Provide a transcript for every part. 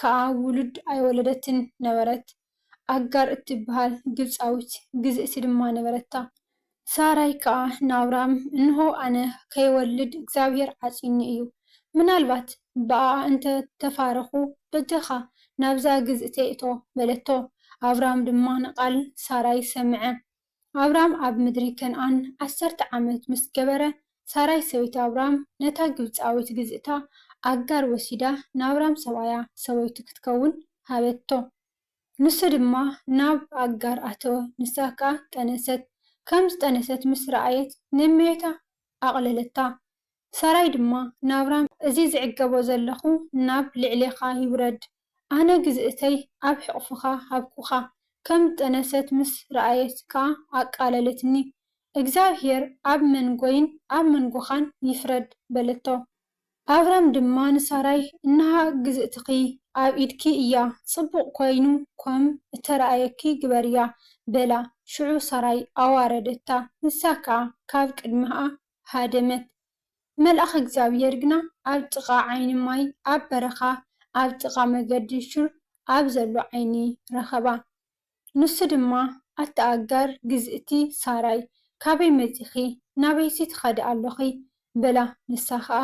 ከኣ ውሉድ ኣይወለደትን ነበረት፣ ኣጋር እትብሃል ግብጻዊት ግዝእቲ ድማ ነበረታ። ሳራይ ከኣ ንኣብራም፣ እንሆ፣ ኣነ ከይወልድ እግዚኣብሄር ዓጽዩኒ እዩ፣ ምናልባት ብኣኣ እንተ ተፋረኹ፣ በጃኻ ናብዛ ግዝእተይ እቶ፣ በለቶ። ኣብራም ድማ ንቓል ሳራይ ሰምዐ። ኣብራም ኣብ ምድሪ ከንኣን ዓሰርተ ዓመት ምስ ገበረ፣ ሳራይ ሰበይቲ ኣብራም ነታ ግብጻዊት ግዝእታ ኣጋር ወሲዳ ናብራም ሰብኣያ ሰበይቱ ክትከውን ሃበቶ። ንሱ ድማ ናብ ኣጋር ኣተወ፣ ንሳ ከኣ ጠነሰት። ከም ዝጠነሰት ምስ ረኣየት ንእመዮታ ኣቕለለታ፣ ሰራይ ድማ ናብራ እዚ ዝዕገቦ ዘለኹ ናብ ልዕሌኻ ይውረድ ኣነ ግዝእተይ ኣብ ሕቕፍኻ ሃብኩኻ ከም ዝጠነሰት ምስ ረኣየት ከኣ ኣቃለለትኒ እግዚኣብሄር ኣብ መንጎይን ኣብ መንጎኻን ይፍረድ በለቶ። ኣብራም ድማ ንሳራይ እንሃ ግዝእትኺ ኣብ ኢድኪ እያ ጽቡቕ ኮይኑ ኮም እተረኣየኪ ግበርያ በላ ሽዑ ሳራይ ኣዋረደታ ንሳ ከኣ ካብ ቅድመሃ ሃደመት። መልኣኽ እግዚኣብሄር ግና ኣብ ጥቓ ዓይኒ ማይ ኣብ በረኻ ኣብ ጥቓ መገዲ ሹር ኣብ ዘሎ ዓይኒ ረኸባ። ንሱ ድማ፣ ኣታ ኣጋር ግዝእቲ ሳራይ፣ ካበይ መጺኺ? ናበይሲ ትኸዲ ኣሎኺ? በላ። ንሳ ኸኣ፣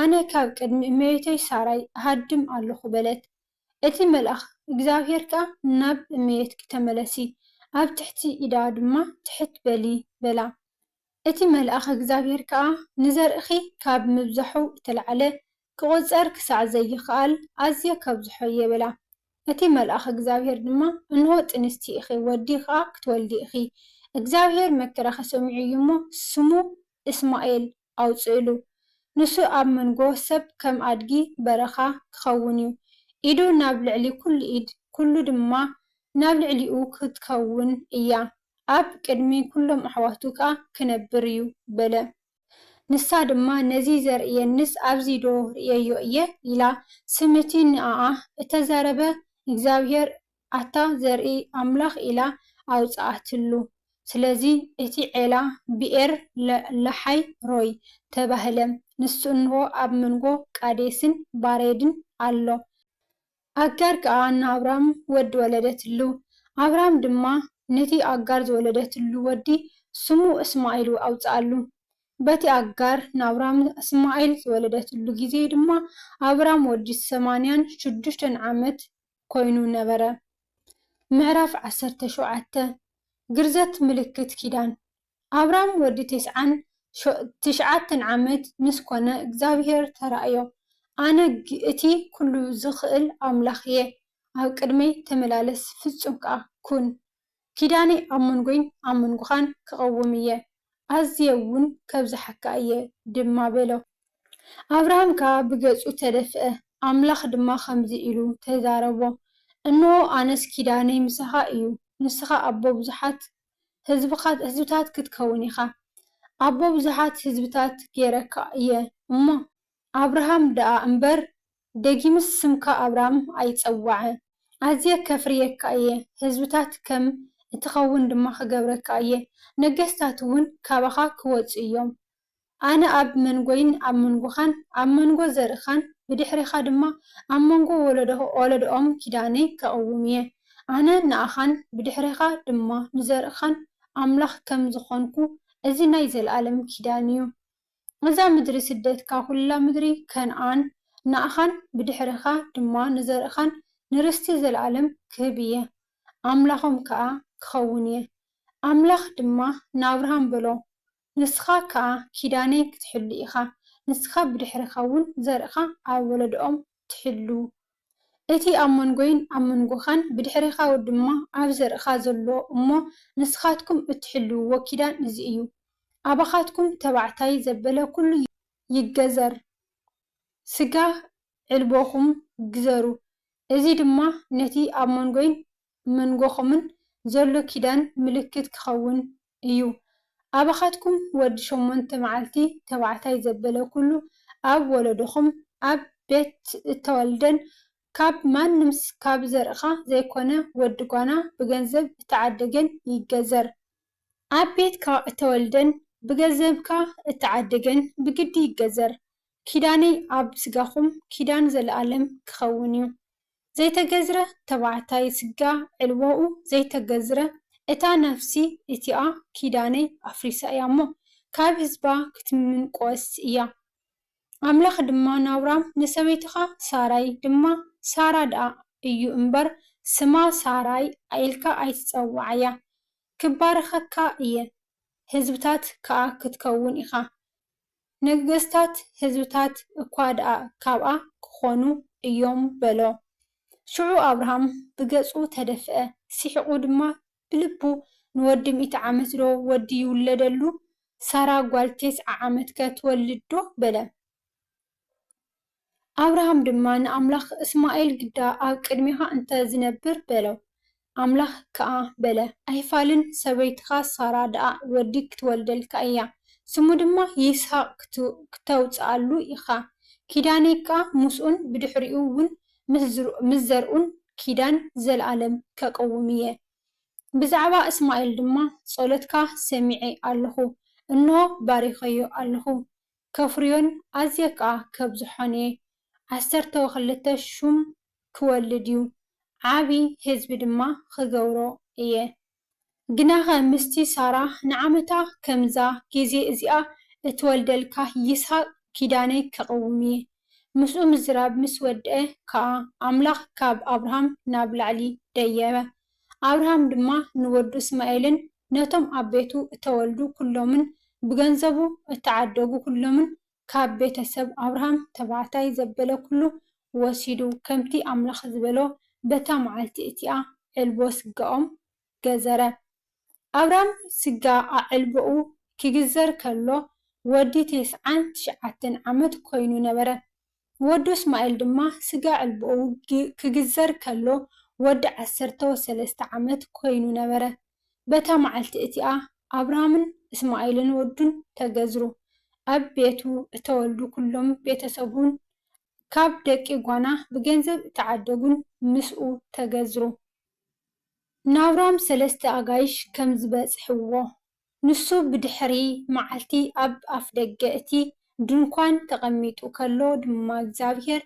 ኣነ ካብ ቅድሚ እመቤተይ ሳራይ እሃድም ኣሎኹ በለት። እቲ መልኣኽ እግዚኣብሄር ከኣ፣ ናብ እመቤትኪ ተመለሲ፣ ኣብ ትሕቲ ኢዳ ድማ ትሕት በሊ በላ። እቲ መልኣኽ እግዚኣብሄር ከኣ ንዘርእኺ ካብ ምብዛሑ እተለዓለ ኪቝጸር ክሳዕ ዘይክኣል ኣዝየ ከብዝሖ'የ በላ። እቲ መልኣኽ እግዚኣብሄር ድማ እንሆ ጥንስቲ ኢኺ ወዲ ኸኣ ክትወልዲ ኢኺ፣ እግዚኣብሄር መከራኺ ሰሚዑ እዩ እሞ ስሙ እስማኤል ኣውጽእሉ፣ ንሱ ኣብ መንጎ ሰብ ከም ኣድጊ በረኻ ኪኸውን እዩ፣ ኢዱ ናብ ልዕሊ ኵሉ ኢድ ኵሉ ድማ ናብ ልዕሊኡ ክትከውን እያ። ኣብ ቅድሚ ኵሎም ኣሕዋቱ ከኣ ክነብር እዩ በለ። ንሳ ድማ ነዚ ዘርእየኒስ ኣብዚዶ ርእየዮ እየ? ኢላ። ስም እቲ ንኣኣ እተዛረበ እግዚኣብሄር ኣታ ዘርኢ ኣምላኽ ኢላ ኣውጽኣትሉ። ስለዚ እቲ ዔላ ብኤር ላሓይ ሮይ ተባህለ። ንሱ እንሆ ኣብ መንጎ ቃዴስን ባሬድን ኣሎ። ኣጋር ከኣ ንኣብራም ወዲ ወለደትሉ፣ ኣብራም ድማ ነቲ ኣጋር ዝወለደትሉ ወዲ ስሙ እስማኤል ኣውጽኣሉ። በቲ ኣጋር ንኣብራም እስማኤል ዝወለደትሉ ጊዜ ድማ ኣብራም ወዲ ሰማንያን ሽዱሽተን ዓመት ኮይኑ ነበረ። ምዕራፍ ዓሰርተ ሸውዓተ፣ ግርዘት ምልክት ኪዳን። ኣብራም ወዲ ተስዓን ትሽዓተን ዓመት ምስ ኮነ እግዚኣብሄር ተራእዮ ኣነ እቲ ኩሉ ዝኽእል ኣምላኽ እየ ኣብ ቅድመይ ተመላለስ ፍጹም ከኣ ኩን ኪዳነይ ኣብ መንጎይን ኣብ መንጎኻን ክቐውም እየ ኣዝየ ውን ከብዝሓካ እየ ድማ በሎ። ኣብራም ከኣ ብገጹ ተደፍአ ኣምላኽ ድማ ከምዚ ኢሉ ተዛረቦ እንሆ ኣነስ ኪዳነይ ምሳኻ እዩ ንስኻ ኣቦ ብዙሓት ህዝብኻት ህዝብታት ክትከውን ኢኻ፣ ኣቦ ብዙሓት ህዝብታት ገይረካ እየ እሞ፣ ኣብርሃም ደኣ እምበር፣ ደጊምስ ስምካ ኣብራም ኣይጸዋዐ፣ ኣዝየ ከፍርየካ እየ፣ ህዝብታት ከም እትኸውን ድማ ክገብረካ እየ፣ ነገስታትውን ካባኻ ክወጹ እዮም፣ ኣነ ኣብ መንጎይን ኣብ መንጎኻን ኣብ መንጎ ዘርእኻን ብድሕሬኻ ድማ ኣብ መንጎ ወለዶኦም ኪዳነይ ከቕውም እየ። ኣነ ንኣኻን ብድሕሬኻ ድማ ንዘርእኻን ኣምላኽ ከም ዝኾንኩ እዚ ናይ ዘለኣለም ኪዳን እዩ። እዛ ምድሪ ስደትካ ኩላ ምድሪ ከንኣን ንኣኻን ብድሕሬኻ ድማ ንዘርእኻን ንርስቲ ዘለኣለም ክህብ እየ ኣምላኾም ከኣ ክኸውን እየ። ኣምላኽ ድማ ንኣብርሃም በሎ ንስኻ ከኣ ኪዳነይ ክትሕሉ ኢኻ፣ ንስኻ ብድሕርኻውን ዘርእኻ ኣብ ወለዶኦም ትሕሉ። እቲ ኣብ መንጎይን ኣብ መንጎኻን ብድሕሬኻ ድማ ኣብ ዘርእኻ ዘሎ እሞ ንስኻትኩም እትሕልውዎ ኪዳን እዚ እዩ፣ ኣባኻትኩም ተባዕታይ ዘበለ ኩሉ ይገዘር፣ ስጋ ዕልቦኹም ግዘሩ፣ እዚ ድማ ነቲ ኣብ መንጎይን መንጎኹምን ዘሎ ኪዳን ምልክት ኪኸውን እዩ። ኣባኻትኩም ወዲ ሸሞንተ መዓልቲ ተባዕታይ ዘበለ ኵሉ ኣብ ወለዶኹም፣ ኣብ ቤት እተወልደን ካብ ማንም ካብ ዘርእኻ ዘይኰነ ወዲ ጓና ብገንዘብ እተዓደገን ይገዘር። ኣብ ቤትካ እተወልደን ብገዘብካ እተዓደገን ብግዲ ይገዘር። ኪዳነይ ኣብ ስጋኹም ኪዳን ዘለኣለም ኪኸውን እዩ። ዘይተገዝረ ተባዕታይ ስጋ ዕልቦኡ ዘይተገዝረ እታ ነፍሲ እቲኣ ኪዳነይ ኣፍሪሳ እያ እሞ ካብ ህዝባ ክትምንቆስ እያ ኣምላኽ ድማ ናብራም ንሰበይትኻ ሳራይ ድማ ሳራ ድኣ እዩ እምበር ስማ ሳራይ ኢልካ ኣይትጸውዓያ ክባርኸካ እየ ህዝብታት ከኣ ክትከውን ኢኻ ነገስታት ህዝብታት እኳ ደኣ ካብኣ ኪዀኑ እዮም በሎ። ሽዑ ኣብርሃም ብገጹ ተደፍአ፣ ስሒቑ ድማ ብልቡ፣ ንወዲ ሚእቲ ዓመትዶ ወዲ ይውለደሉ፣ ሳራ ጓል ቴስዓ ዓመትከ ትወልድዶ? በለ። ኣብርሃም ድማ ንኣምላኽ፣ እስማኤል ግዳ ኣብ ቅድሜኻ እንተ ዚነብር፣ በሎ። ኣምላኽ ከኣ በለ፣ ኣይፋልን፣ ሰበይትኻ ሳራ ደኣ ወዲ ኽትወልደልካ እያ፣ ስሙ ድማ ይስሃቅ ክተውጽኣሉ ኢኻ፣ ኪዳነይ ከኣ ምስኡን ብድሕሪኡውን ምስ ዘርኡን ኪዳን ዘለኣለም ከቕውም እየ። ብዛዕባ እስማኤል ድማ፣ ጸሎትካ ሰሚዔ ኣሎኹ፣ እንሆ፣ ባሪኸዮ ኣሎኹ፣ ከፍርዮን ኣዝየ ከኣ ከብዝሖን'የ። ዓሰርተው ክልተ ሹም ክወልድ'ዩ፣ ዓቢ ህዝቢ ድማ ክገብሮ እየ። ግናኸ ምስቲ ሳራ ንዓመታ ከምዛ ግዜ እዚኣ እትወልደልካ ይስሃቅ ኪዳነይ ከቕውም'የ። ምስኡ ምዝራብ ምስ ወድኤ ከኣ ኣምላኽ ካብ ኣብርሃም ናብ ላዕሊ ደየበ። ኣብርሃም ድማ ንወዱ እስማኤልን ነቶም ኣብ ቤቱ እተወልዱ ኵሎምን ብገንዘቡ እተዓደጉ ኵሎምን ካብ ቤተ ሰብ ኣብርሃም ተባዕታይ ዘበለ ኵሉ ወሲዱ፣ ከምቲ ኣምላኽ ዝበሎ በታ መዓልቲ እቲኣ ዕልቦ ስጋኦም ገዘረ። ኣብርሃም ስጋ ኣዕልቦኡ ኺግዘር ከሎ ወዲ ተስዓን ትሽዓተን ዓመት ኰይኑ ነበረ። ወዱ እስማኤል ድማ ስጋ ዕልቦኡ ኪግዘር ከሎ ወዲ ዓሰርተ ወሰለስተ ዓመት ኰይኑ ነበረ። በታ መዓልቲ እቲኣ ኣብርሃምን እስማኤልን ወዱን ተገዝሩ። ኣብ ቤቱ እተወልዱ ኵሎም ቤተ ሰቡን ካብ ደቂ ጓና ብገንዘብ እተዓደጉን ምስኡ ተገዝሩ። ንኣብርሃም ሰለስተ ኣጋይሽ ከም ዝበጽሕዎ ንሱ ብድሕሪ መዓልቲ ኣብ ኣፍደገ እቲ ድንኳን ተቐሚጡ ከሎ ድማ እግዚኣብሄር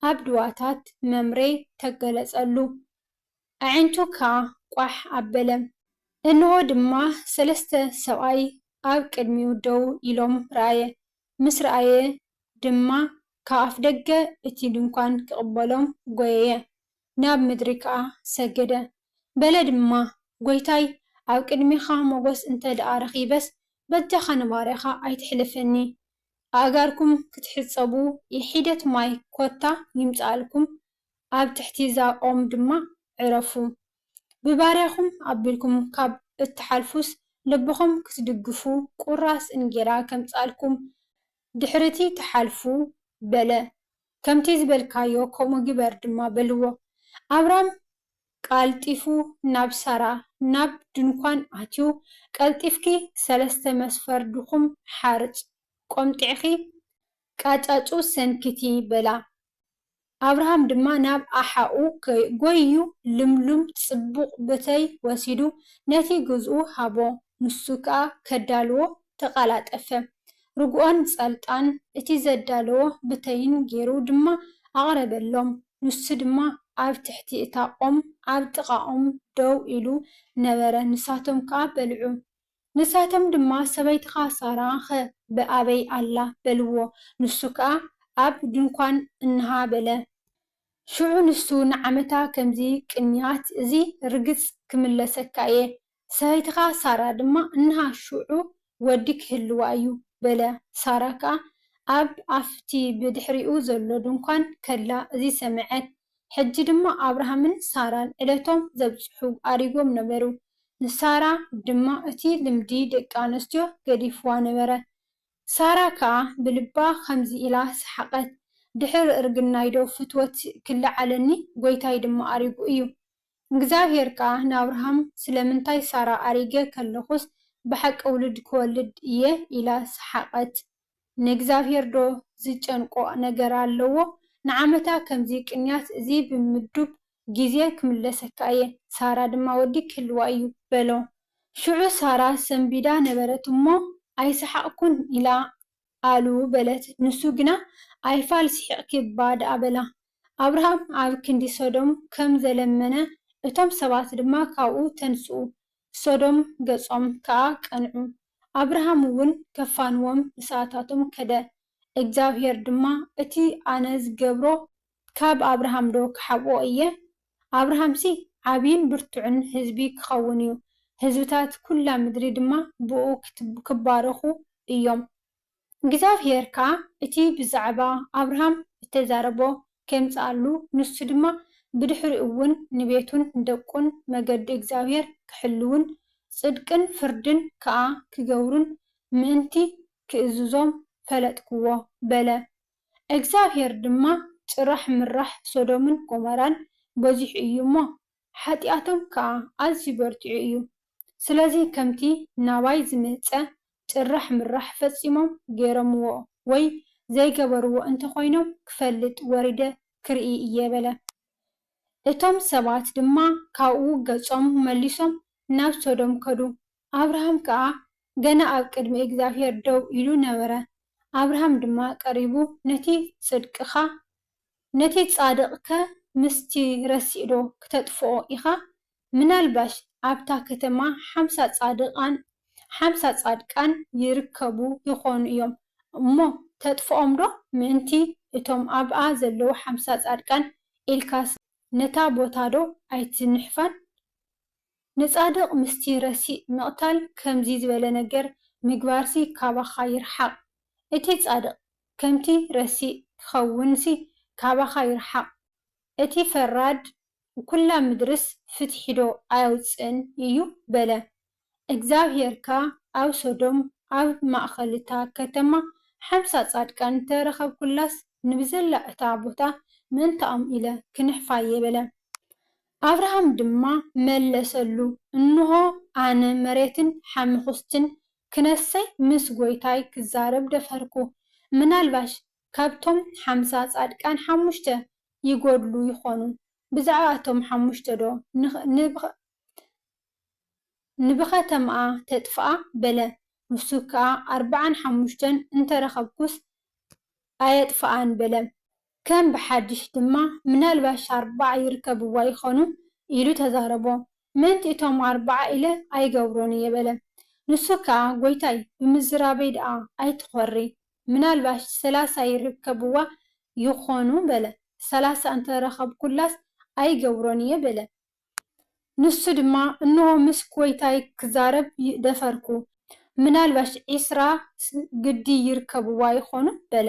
ኣብ ድዋታት መምሬ ተገለጸሉ፣ ኣዒንቱ ከኣ ቋሕ ኣበለ። እንሆ ድማ ሰለስተ ሰብኣይ ኣብ ቅድሚኡ ደው ኢሎም ረኣየ፣ ምስ ረኣየ ድማ ካብ ኣፍደገ እቲ ድንኳን ክቕበሎም ጐየየ። ናብ ምድሪ ከኣ ሰገደ። በለ ድማ፣ ጐይታይ፣ ኣብ ቅድሜኻ ሞገስ እንተ ደኣ ረኺበስ፣ በጃኻ ንባርያኻ ኣይተሕልፈኒ። ኣእጋርኩም ክትሕጸቡ ሒደት ማይ ኰታ ይምጽኣልኩም፣ ኣብ ትሕቲ'ዛ ኦም ድማ ዕረፉ። ብባርያኹም ኣቢልኩም ካብ እትሓልፉስ፣ ልብኹም ክትድግፉ ቍራስ እንጌራ ከምጽኣልኩም፣ ድሕሪ'ቲ ትሓልፉ፣ በለ። ከምቲ ዝበልካዮ ከምኡ ግበር ድማ በልዎ። ኣብራም ቐልጢፉ ናብ ሳራ ናብ ድንኳን ኣትዩ፣ ቀልጢፍኪ ሰለስተ መስፈር ድኹም ሓርጭ ቈምጢዕኺ ቃጫጩ ሰንክቲ በላ። ኣብርሃም ድማ ናብ ኣሓኡ ጐይዩ ልምሉም ጽቡቕ ብተይ ወሲዱ ነቲ ግዝኡ ሃቦ፣ ንሱ ከኣ ከዳልዎ ተቓላጠፈ። ርጉኦን ጸልጣን እቲ ዘዳለዎ ብተይን ገይሩ ድማ ኣቕረበሎም፣ ንሱ ድማ ኣብ ትሕቲ እታ ኦም ኣብ ጥቓኦም ደው ኢሉ ነበረ፣ ንሳቶም ከኣ በልዑ። ንሳቶም ድማ፣ ሰበይትኻ ሳራ'ኸ ኣበይ ኣላ? በልዎ። ንሱ ከኣ፣ ኣብ ድንኳን እንሃ በለ። ሽዑ ንሱ ንዓመታ ከምዚ ቅንያት እዚ ርግጽ ክምለሰካ እየ፣ ሰበይትኻ ሳራ ድማ እንሃ ሽዑ ወዲ ኪህልዋ እዩ በለ። ሳራ ከኣ ኣብ ኣፍ'ቲ ብድሕሪኡ ዘሎ ድንኳን ከላ እዚ ሰምዐት። ሕጂ ድማ ኣብርሃምን ሳራን ዕለቶም ዘብጽሑ ኣሪጎም ነበሩ። ንሳራ ድማ እቲ ልምዲ ደቂ ኣንስትዮ ገዲፍዋ ነበረ። ሳራ ከኣ ብልባ ከምዚ ኢላ ሰሓቐት፣ ድሕሪ እርግናይዶ ፍትወት ኪለዓለኒ፣ ጐይታይ ድማ ኣሪጉ እዩ። እግዚኣብሄር ከኣ ንኣብርሃም ስለምንታይ ሳራ ኣሪገ ከለኹስ ብሓቂ ውሉድ ክወልድ እየ ኢላ ሰሓቐት ንእግዚኣብሄር ዶ ዝጨንቆ ነገር ኣለዎ ንዓመታ ከምዚ ቅንያት እዚ ብምዱብ ግዜ ክምለሰካ እየ ሳራ ድማ ወዲ ክህልዋ እዩ በሎ ሽዑ ሳራ ሰንቢዳ ነበረት እሞ ኣይሰሓቕኩን ኢላ ኣሉ በለት። ንሱ ግና ኣይፋል ስሒቕኪ እባ ደኣ በላ። ኣብርሃም ኣብ ክንዲ ሶዶም ከም ዘለመነ እቶም ሰባት ድማ ካብኡ ተንስኡ፣ ሶዶም ገጾም ከኣ ቀንዑ። ኣብርሃም እውን ከፋንዎም ንሰኣታቶም ከደ፣ እግዚኣብሄር ድማ እቲ ኣነ ዝገብሮ ካብ ኣብርሃም ዶ ክሓብኦ ኢየ? ኣብርሃምሲ ዓብይን ብርቱዕን ህዝቢ ክኸውን ኢዩ፣ ህዝብታት ኵላ ምድሪ ድማ ብእኡ ክባረኹ ኢዮም። እግዚኣብሄር ከኣ እቲ ብዛዕባ ኣብርሃም እተዛረቦ ኼምጽኣሉ፣ ንሱ ድማ ብድሕሪኡውን ንቤቱን ንደቁን መገዲ እግዚኣብሄር ኪሕልዉን ጽድቅን ፍርድን ከኣ ኪገብሩን ምእንቲ ኺእዝዞም ፈለጥክዎ በለ። እግዚኣብሄር ድማ ጭራሕ ምራሕ ሶዶምን ጎመራን በዚሑ እዩ እሞ፣ ሓጢኣቶም ከኣ ኣዝዩ በርቲዑ እዩ። ስለዚ ከምቲ ናባይ ዝመጸ ጭራሕ ምራሕ ፈጺሞም ገይሮምዎ ወይ ዘይገበርዎ እንተ ኾይኖም ክፈልጥ ወሪደ ክርኢ እየ በለ። እቶም ሰባት ድማ ካብኡ ገጾም መሊሶም ናብ ሶዶም ከዱ። ኣብርሃም ከኣ ገና ኣብ ቅድሚ እግዚኣብሄር ደው ኢሉ ነበረ፣ ኣብርሃም ድማ ቀሪቡ ነቲ ጽድቅኻ ነቲ ጻድቕከ ምስቲ ረሲእዶ ክተጥፍኦ ኢኻ? ምናልባሽ ኣብታ ከተማ ሓምሳ ጻድቓን ሓምሳ ጻድቃን ይርከቡ ይኾኑ እዮም እሞ ተጥፍኦምዶ? ምእንቲ እቶም ኣብኣ ዘለዉ ሓምሳ ጻድቃን ኢልካስ ነታ ቦታዶ ኣይትንሕፋን? ንጻድቕ ምስቲ ረሲእ ምቕታል ከምዚ ዝበለ ነገር ምግባርሲ ካባኻ ይርሓቕ። እቲ ጻድቕ ከምቲ ረሲእ ኪኸውንሲ ካባኻ ይርሓቕ። እቲ ፈራድ ኵላ ምድርስ ፍትሒዶ ኣየውጽእን እዩ? በለ። እግዚኣብሄር ከኣ ኣብ ሶዶም ኣብ ማእከል እታ ከተማ ሓምሳ ጻድቃን እንተ ረኸብኩላስ ንብዘላ እታ ቦታ ምእንታኦም ኢለ ክነሕፋ'የ በለ። ኣብርሃም ድማ መለሰሉ፣ እንሆ፣ ኣነ መሬትን ሓመዅስትን ክነሰይ ምስ ጐይታይ ክዛረብ ደፈርኩ፣ ምናልባሽ ካብቶም ሓምሳ ጻድቃን ሓሙሽተ ይጐድሉ ይዀኑ፣ ብዛዕባ እቶም ሓሙሽተዶ ንብኸተማኣ ተጥፍኣ? በለ። ንሱ ከኣ፣ ኣርብዓን ሓሙሽተን እንተ ረኸብኩስ፣ ኣየጥፍኣን በለም። ከም ብሓድሽ ድማ ምናልባሽ ኣርብዓ ይርከብዋ ይኾኑ ኢሉ ተዛረቦ። ምእንቲ እቶም ኣርብዓ ኢለ ኣይገብሮን እየ በለም። ንሱ ከኣ ጐይታይ ብምዝራበይ ደኣ ኣይትኾሪ፣ ምናልባሽ ሰላሳ ይርከብዋ ይኾኑ በለ። ሰላሳ እንተ ረኸብኩላስ ኣይገብሮን እየ በለም። ንሱ ድማ፣ እንሆ ምስ ጐይታይ ክዛረብ ደፈርኩ፣ ምናልባሽ ዕስራ ግዲ ይርከብዋ ይዀኑ፣ በለ።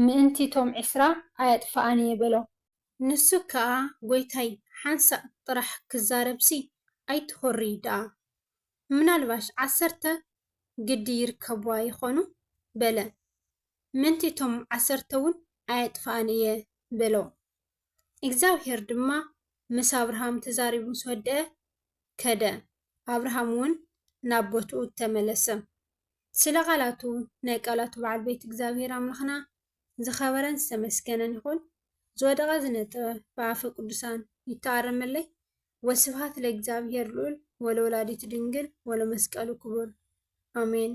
ምእንቲ እቶም ዕስራ ኣየጥፍኣን እየ፣ በሎ። ንሱ ከኣ፣ ጐይታይ፣ ሓንሳእ ጥራሕ ክዛረብሲ ኣይትዅሪ ደኣ፣ ምናልባሽ ዓሰርተ ግዲ ይርከብዋ ይዀኑ፣ በለ። ምእንቲ እቶም ዓሰርተውን ኣየጥፍኣን እየ፣ በሎ። እግዚኣብሄር ድማ ምስ ኣብርሃም ተዛሪቡ ምስ ወድአ፣ ከደ፣ ኣብርሃምውን ናብ ቦትኡ ተመለሰ። ስለ ቃላቱ ናይ ቃላቱ በዓል ቤት እግዚኣብሄር ኣምላኽና ዝኸበረን ዝተመስገነን ይኹን፣ ዝወደቐ ዝነጠበ ብኣፈ ቅዱሳን ይተኣረመለይ፣ ወስብሃት ለእግዚኣብሄር ልኡል ወለወላዲቱ ድንግል ወለመስቀሉ ክቡር ኣሜን።